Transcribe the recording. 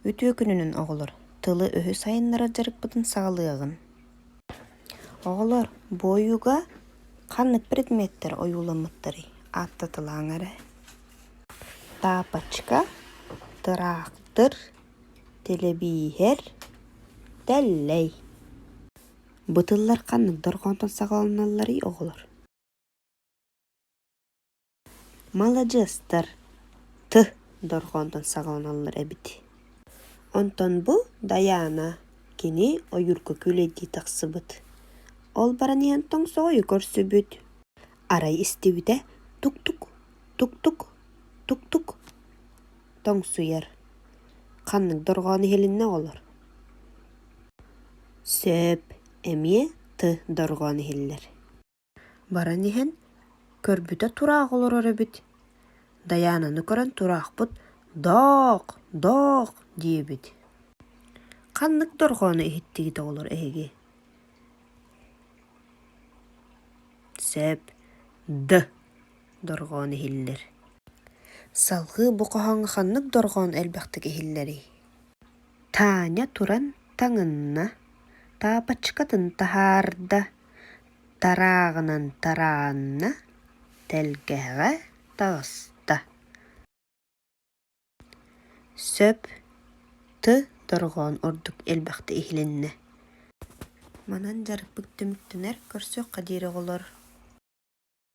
Үтүө күнүнэн, оҕолор! Тылы-өһү сайыннарар дьарыкпытын саҕалыаҕыҥ. Оҕолор, бу ойууга ханнык предметтэр ойууламмыттарый? Ааттатылааҥ эрэ. Тапочка, тыраахтыр, тэлэбииһэр, тэллэй. Бу тыллар ханнык дорҕоонтон саҕаланалларый, оҕолор? Маладьыастар, Ты дорҕоонтон саҕаланаллар эбит Онтон бу Дайаана, кини ойуурга күүлэйдии тахсыбыт. Ол баран иһэн тоҥсоҕойу көрсүбүт. Арай истибитэ тук-тук, тук-тук, тук-тук тоҥсуйар. Ханнык дорҕоон иһилиннэ оҕолор? Сөп, эмиэ Ты дорҕоон иһиллэр Баран иһэн, көрбүтэ тураах олорор эбит. Дайаананы көрөн тураахпыт «Доох! Доох!» диэбит. Ханнык дорҕоону иһиттигит оҕолор эһиги? Сөп. Д. дорҕоон иһиллэр. Салгыы бу хоһооҥҥо ханнык дорҕоон элбэхтик иһиллэрий? Таня туран таҥынна, таапачкатын таһаарда, Тарааҕынан тарааанна, тэлгэһэҕэ таҕыста Сөп, ты дорҕоон ордук элбэхтик иһилиннэ Манан дьарыкпыт түмүктэнэр, көрсүөххэ диэри оҕолор